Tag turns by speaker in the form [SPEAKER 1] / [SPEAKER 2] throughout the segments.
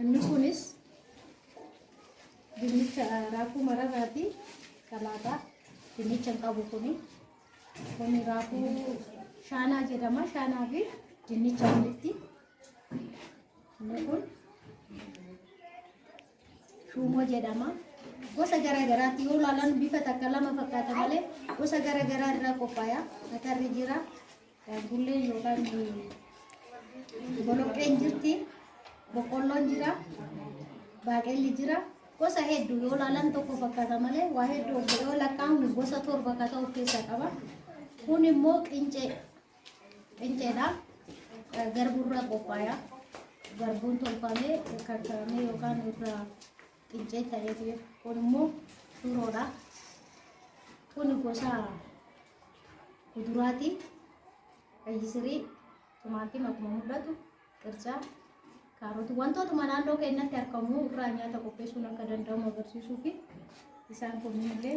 [SPEAKER 1] Inni kunis dinnicha raafuu mararraati salaataa dinnicha hin qabu kuni. Kuni raafuu shaanaa jedhama. Shaanaa fi dinnicha walitti. Inni kun shuumoo jedhama. Gosa garaa garaatti yoo ilaalan bifa takka lama fakkaata malee gosa garaa garaa irraa qophaaya. Atarri jira, Bulleen yookaan boloqqeen jirti, boqqolloon jira, baaqelli jira. Gosa hedduu yoo ilaalan tokko fakkaata malee waa hedduu of yoo lakkaa'amu gosa torba akka ta'u of keessaa qaba. Kun immoo qincee qinceedha. Garbuurraa qophaaya. Garbuun tolfamee kakkaramee yookaan irraa Xincee ta'eetu jira. Kun immoo shuroodha. Kun gosa kuduraati. Qayyisirii, timaatima akkuma mul'atu, qircaa, kaaroti wantootuma naannoo keenyatti argamu irraa nyaata qopheessuun akka danda'amu agarsiisuu fi isaan kunniin illee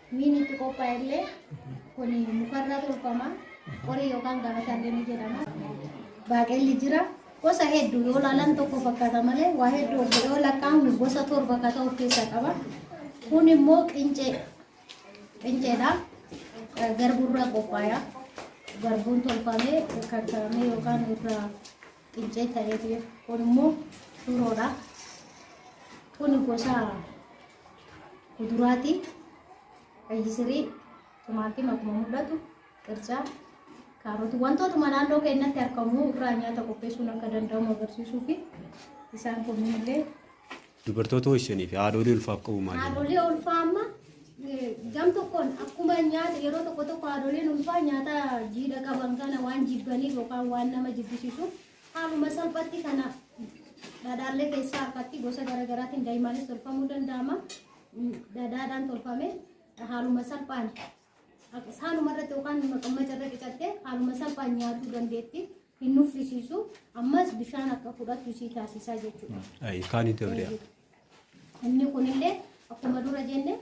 [SPEAKER 1] Miini itti qophaa'e illee kun mukarraa tolfama. Qorii yookaan gabataa illee ni jedhama. Baaqelli jira. Gosa hedduu yoo ilaalan tokko fakkaata malee waa hedduu of yoo lakkaa'amnu gosa torba akka ta'u of keessaa qaba. Kun immoo qincee qinceedha. Garbuurraa qophaaya. Garbuun tolfamee kakkaramee yookaan irraa qincee ta'ee kun immoo shuroodha. Kun gosa kuduraati qayyisirii timaatima akkuma mul'atu qircaa kaarotii wantootuma naannoo keenyatti argamu irraa nyaata qopheessuun akka danda'amu agarsiisuu fi isaan kunniin illee Dubartoota
[SPEAKER 2] ho'isanii fi haadholii ulfaaf qabu maal jedhama? haadholii ulfaa amma
[SPEAKER 1] eh, gam tokkoon akkuma nyaata yeroo tokko tokko haadholiin ulfaa nyaata jiidha qaban kana waan jibbaniif yookaan waan nama jibbisiisuuf Haaluma salphatti kana dhadhaallee keessaa harkatti gosa garaagaraatiin daa'imaanis tolfamuu danda'ama. Dhadhaadhaan tolfame haaluma salphaan haaluma irratti yookaan maqammaca irra qicattee haaluma salphaan nyaatuu dandeetti. Hin nuffisiisu ammas bishaan akka fudhattu isii taasisaa jechuudha. Ayi kaani dabriya.
[SPEAKER 2] Inni
[SPEAKER 1] kunillee akkuma dura jenne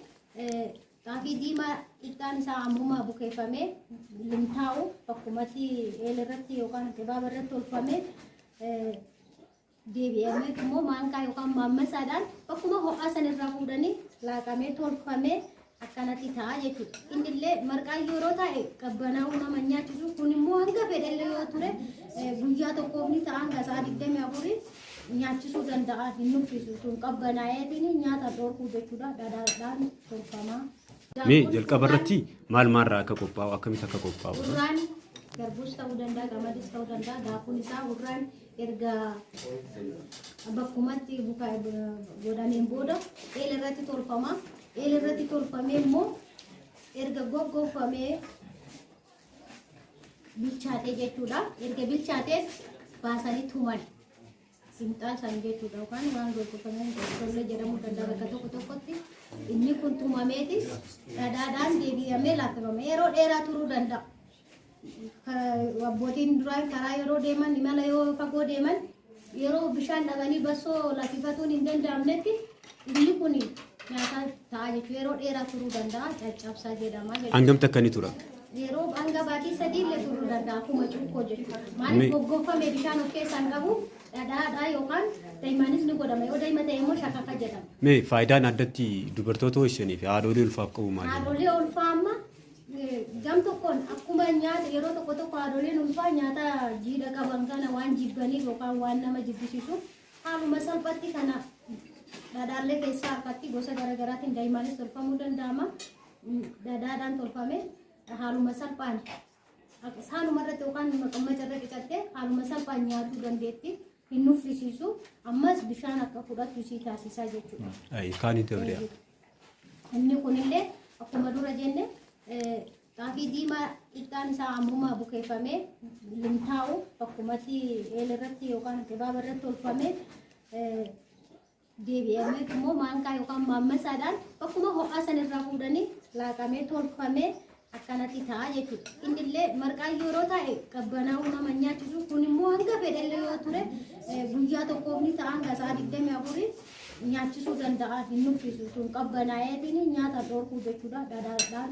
[SPEAKER 1] Xaafii diimaa qixxaan isaa ammuma bukeeffamee limtaa'u bakkumatti eel irratti yookaan qibaaba irratti tolfamee deebi'amee immoo maankaa yookaan maammasaadhaan bakkuma ho'aa san irraa fuudhanii laaqamee tolfamee akkanatti ta'a jechuudha. Inni illee marqaa yeroo taa'e qabbanaa'uu nama nyaachisu kun immoo hanga fedhellee yoo ture guyyaa tokkoof ni ta'a hanga sa'a digdamii afurii nyaachisuu danda'a hin nuffisu sun qabbanaa'eetiin nyaata dhorkuu jechuudha dhadhaadhaan tolfama. Mee jalqaba
[SPEAKER 2] irratti maal maalirraa akka qophaa'u akkamitti akka qophaa'u? Hurraan
[SPEAKER 1] garbuus ta'uu danda'a qamadiis ta'uu danda'a daakuun isaa hurraan erga bakkumatti bukaa godhameen booda eela irratti tolfama. Eela irratti tolfamee immoo erga goggoofamee bilchaatee jechuudha. Erga bilchaatees baasanii tuman. Simxaa isaan jechuudha yookaan waan gurgurfamee tollee jedhamuu danda'a bakka tokko tokkotti inni kun tumameeti dhadhaadhaan deebi'amee laaffifama yeroo dheeraa turuu danda'a. Ka- Abbootiin duraan karaa yeroo deeman imala yoo fagoo deeman yeroo bishaan dhabanii bassoo laffifatuun hin danda'amnetti Inni kun nyaataa ta'a jechuun yeroo dheeraa turuu danda'a caccabsaa jedhama jechuudha. Hangam takka ni tura?
[SPEAKER 2] Yeroo hanga
[SPEAKER 1] baatii sadii illee turuu danda'a akkuma cuukkoo jechuudha. Me- Maaliif goggoffame bishaan of keessaa hin qabu dhadhaadhaa yookaan daa'immanis ni godhama yoo daa'ima ta'e immoo shakafa jedhama. Mee faayidaan addatti
[SPEAKER 2] dubartoota ho'isanii fi haadholii ulfaaf qabu maali? Haadholee ulfaa amma
[SPEAKER 1] eh, gam tokkoon akkuma nyaata yeroo tokko tokko haadholeen ulfaa nyaata jiidha qaban kana waan jibbaniif yookaan waan nama jibbisiisuuf Haaluma salphatti kana dhadhaallee keessaa harkatti gosa garaagaraatiin daa'imaanis tolfamuu danda'ama. Dhadhaadhaan tolfame haaluma salphaan haaluma irratti yookaan maqammaca irra qicattee haaluma salphaan nyaatuu dandeetti. Hin nuffisiisu ammas bishaan akka fudhattu isii taasisaa jechuudha. Ayi kaani dabriya.
[SPEAKER 2] Inni
[SPEAKER 1] kunillee akkuma dura jenne Xaafii diimaa qixxaan isaa ammuma bukeeffamee limtaa'u bakkumatti eel irratti yookaan qibaaba irratti tolfamee deebi'amee immoo maankaa yookaan maammasaadhaan bakkuma ho'aa san irraa fuudhanii laaqamee tolfamee akkanatti ta'a jechuudha. Inni illee marqaa yeroo taa'e qabbanaa'uu nama nyaachisu kun immoo hanga fedhellee yoo ture guyyaa tokkoof ni ta'a hanga sa'a digdamii afurii nyaachisuu danda'a hin nuffisu sun qabbanaa'eetiin nyaata dhorkuu jechuudha dhadhaadhaan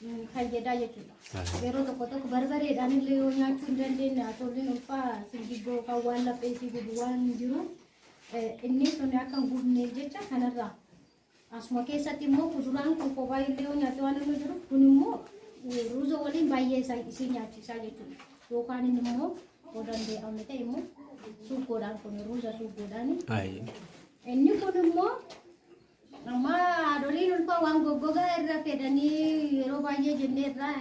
[SPEAKER 1] nu fayyadaa jechuudha. Yeroo tokko tokko barbareedhaan illee yoo nyaachuu hin dandeenye haatolliin ulfaa singiggoo kan waan laphee isii gubu waan hin jiru inni sun akka hin gubneef jecha kanarraa asuma keessatti immoo kuduraan kun kophaa illee yoo nyaatte waan inni jiru kun immoo ruuza waliin baay'ee isaa isii nyaachisaa jechuudha. Yookaan inni immoo yoo danda'ame ta'e immoo suugoodhaan kun ruuza suugoodhaani. Ayi. Inni kun immoo Amma haadholiin ulfaa waan goggogaa irra fedhanii yeroo baay'ee jennee irraa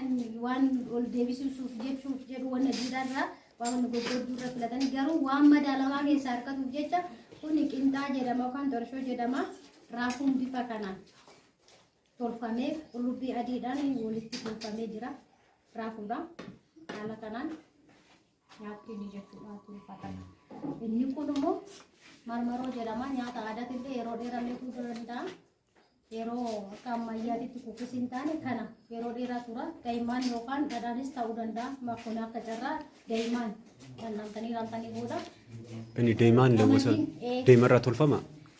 [SPEAKER 1] waan ol deebisuuf jechuuf jedhu wanna jiidhaa irraa waan wanna goggodduu irra filatanii garuu waan madaalamaa keessaa harkatuuf jecha kun qinxaa jedhama yookaan torshoo jedhama raafuun bifa kanaan tolfamee qullubbii adiidhaan walitti tolfamee jira raafuudha haala kanaan. nyaatti inni jechuudha tolfatama. Inni kun immoo marmaroo jedhama nyaata aadaatti illee yeroo dheeraa illee turuu danda'a. Yeroo akka ammayyaatitti kukkis hin taane kana yeroo dheeraa tura. Daa'imman yookaan dhadhaanis ta'uu danda'a. Makkoon akka carraa daa'imman dhandhamtanii raamtanii booda. Inni deemaan
[SPEAKER 2] lawwisa Ee. deemarraa tolfama.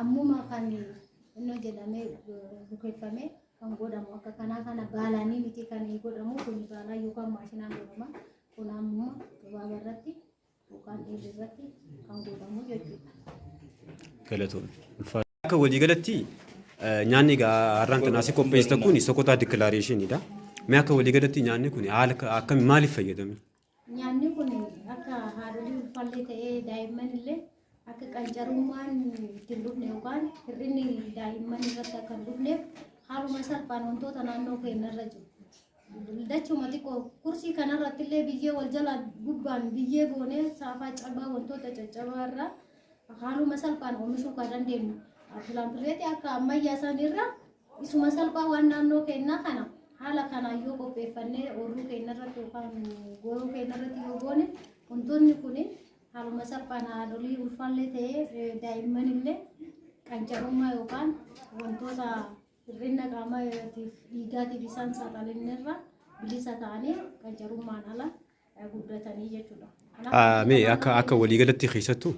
[SPEAKER 1] Ammuma kan innoo jedhamee bukeeffame kan godhamu akka kanaa kana baalaanii miti kan godhamu kun baalaa yookaan maashinaan godhama. Kun ammuma gabaaba irratti yookaan dhiirri irratti kan godhamu jechuudha.
[SPEAKER 2] Galatoon. Akka waliigalatti nyaanni har'aan kan asii qopheessitan kun sokotaa dikilaareeshiniidha. Mee akka waliigalatti nyaanni kun haala akkamiin maaliif fayyadame? Nyaanni kun
[SPEAKER 1] akka haadholii ulfaallee ta'ee daa'imman illee akka qancarummaan itti hin dhufne yookaan hir'inni daa'imman irratti akka hin dhufneef haaluma salphaan wantoota naannoo keenya irra jiru. Dachuma xiqqoo kursii kanarratti illee biyyee wal jala gubbaan biyyee goonee saafaa cabaa wantoota caccabaa irraa haaluma salphaan oomishuu kan dandeenyu. Pilaanpireetii akka ammayyaa isaanii irraa Isuma salphaa waan naannoo keenyaa kana haala kanaan yoo qopheeffannee ooluu keenya irratti yookaan gooroo keenya irratti yoo goone wantoonni kun haaluma salphaan haadholii ulfaallee ta'ee daa'imman illee qancarummaa yookaan wantoota hir'ina qaamaatiif dhiigaatiif isaan saaxilanirra bilisa ta'anii qancarummaan ala guddatanii jechuudha. Mee akka akka
[SPEAKER 2] waliigalatti keessattuu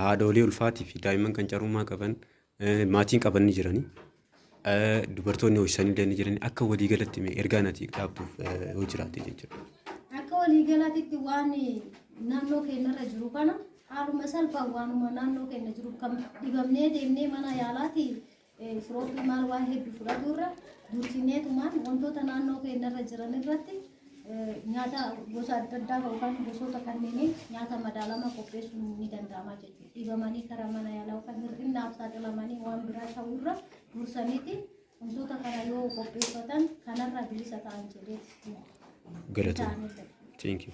[SPEAKER 2] haadholii ulfaatii fi daa'imman qancarummaa qaban Maatiin qaban ni jirani. Dubartoonni hoosisanillee ni jirani. Akka walii galatti mee ergaa nati dhaabduuf yoo jiraate jechuudha. Akka walii
[SPEAKER 1] galatitti waan naannoo keenyarra jiru kana haaluma salphaan waanuma naannoo keenya jiru kan dhibamnee deemnee mana yaalaati firoofii maal waan hedduu fudhaturra dursineetumaan wantoota naannoo keenyarra jiran irratti nyaata gosa adda addaa yookaan gosoota kanneenii nyaata madaalamaa qopheessuun ni danda'ama jechuudha. Dhibamanii karaa mana yaalaa yookaan hir'innaaf saaxilamanii waan biraa ta'urra dursaniiti wantoota kana yoo qopheeffatan kanarraa bilisa
[SPEAKER 2] ta'an
[SPEAKER 1] jedhee Galatoom.
[SPEAKER 2] ta'anidha.
[SPEAKER 1] Thank you.